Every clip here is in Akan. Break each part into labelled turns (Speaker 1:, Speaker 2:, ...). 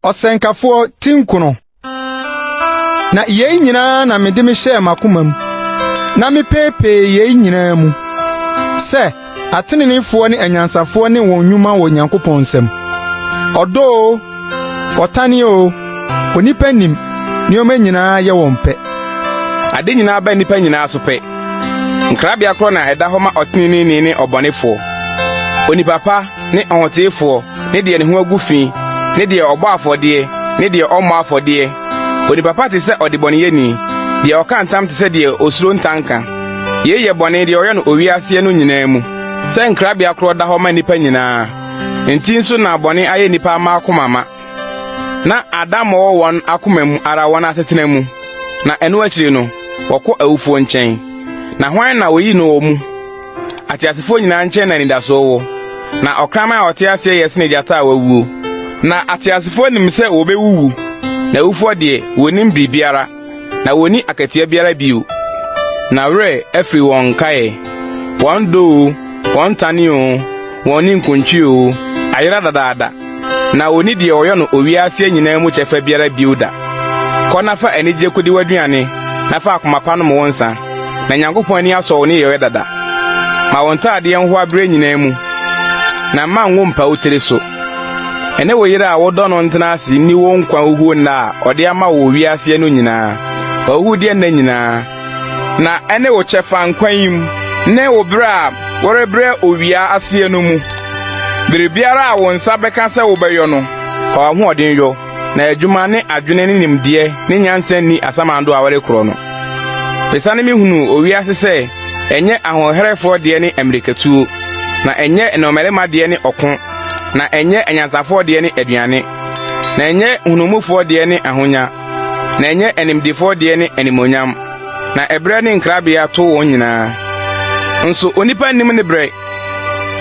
Speaker 1: ɔsɛnkafoɔ ti nkono na yei nyinaa na mede me hyɛɛ m'akoma mu na mepeepee yei nyinaa mu sɛ ateneneefoɔ ne anyansafoɔ ne wɔn nnwuma wɔ Onyankopɔn nsam ɔdɔɔ Ɔtane o, onipa nim nneɛma nyinaa yɛ wɔn pɛ. Ade
Speaker 2: nyinaa ba nnipa nyinaa so pɛ. Nkrabea korɔ na ɛda hɔ ma ɔteneneeni ne ɔbɔnefoɔ, onipa pa ne ɔhoteefoɔ ne deɛ ne ho agu fi ne deɛ ɔbɔ afɔdeɛ ne deɛ ɔmmɔ afɔdeɛ. Onipa pa te sɛ ɔdebɔneyɛni, deɛ ɔka ntam te sɛ deɛ osuro ntanka. Yei yɛ bɔne deɛ ɔyɛ no owia aseɛ no nyinaa mu. Sɛ nkrabea korɔ da hɔ ma nnipa nyinaa. Enti nso na bɔne ayɛ nnipa mma akoma ma. Na Adam wɔ wɔn akoma mu ara wɔn asetena mu, na ɛno akyiri no, wɔkɔ awufoɔ nkyɛn. Na hwan na wɔyi no wɔ mu? Ateasefoɔ nyinaa nkyɛn na anidasoɔ wɔ. Na ɔkraman a ɔte aseɛ yɛ sene gyata a wawuo. Na ateasefoɔ nim sɛ wɔbɛwuwu, na awufoɔ deɛ, wɔnnim biribiara. na wɔnni akatua biara bio, na werɛ afiri wɔn nkaeɛ, wɔn dɔ oo, wɔn ntane oo, wɔn ninkuntwe oo, ayera dadaada, na wɔnni deɛ wɔyɔ no owia aseɛ nyinaa mu kyɛfa biara bio da. Kɔ na fa anigyeɛ kɔdi w'aduane, na fa akoma pa nom wo nsã, na Nyankopɔn ani asɔ wo nneyɔeɛ dada. Ma wo ntaadeɛ nhoa berɛ nyinaa mu, na mma ngo mpa wo tiri so. Ɛne wo yere a wodɔ no ntena ase nni wo nkwa huhuo nna a ɔde ama wo wɔ wiaseɛ no nyinaa, w'ahuhudeɛ nna nyinaa, na ɛne wo kyɛfa nkwa yi mu ne wo berɛ a worebrɛ owia aseɛ no mu. Biribiara a wo nsa bɛka sɛ wobɛyɔ no, fa w'ahoɔden yɔ. na adwuma ne adwene ne nimdeɛ ne nyansa nni asamando a wɔrekorɔ no. Esiane me hunu owia ase sɛ ɛnyɛ ahoɔherɛfoɔ deɛ ne mmirikatuo, na ɛnyɛ nnɔmmarima deɛ ne ɔko, na ɛnyɛ anyansafoɔ deɛ ne aduane, na ɛnyɛ nhunuwmufoɔ deɛ ne ahonya, na ɛnyɛ animdefoɔ deɛ ne animuonyam, na ɛberɛ ne nkrabea to wɔn nyinaa. Nso onipa nnim ne berɛ.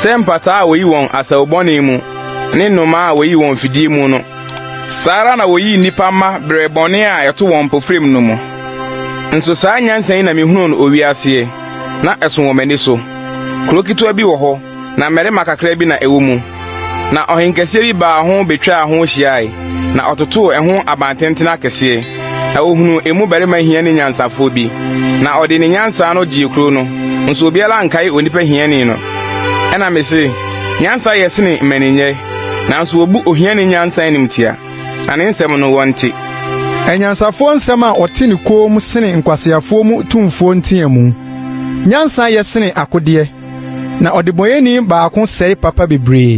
Speaker 2: Sɛ mpataa a woyi wɔn asau bɔne mu ne nnomaa a woyi wɔn fidie mu no, saa ara na woyii nnipa mma brɛɛ bɔne a ɛto wɔn mpofirim no mu. Nso saa nyansa yi na mihunuu no owia aseɛ, na ɛso wɔ m'ani so. Kuro ketewa bi wɔ hɔ, na mmarima kakra bi na ɛwɔ mu. Na ɔhenkɛseɛ bi baa ho bɛtwaa ho hyiae, na ɔtotoo ɛho abantenten akɛseɛ, na ɔhunuu emu barima hiani nyansafoɔ bi, na ɔde ne nyansa ano gyee kuro no, nso obiara ankae onipa hiani no. Ɛna mese, Nyansa yɛ sene mmaninyɛ, nanso wɔbu ohiani nyansa animtia, na ne nsɛm no wɔnte. Anyansafoɔ
Speaker 1: nsɛm a wɔte no komm sene nkwaseafoɔ mu tumfoɔ nteamu. Nyansa yɛ sene akodeɛ. Na ɔdebɔneyɛni baako sɛe papa bebree.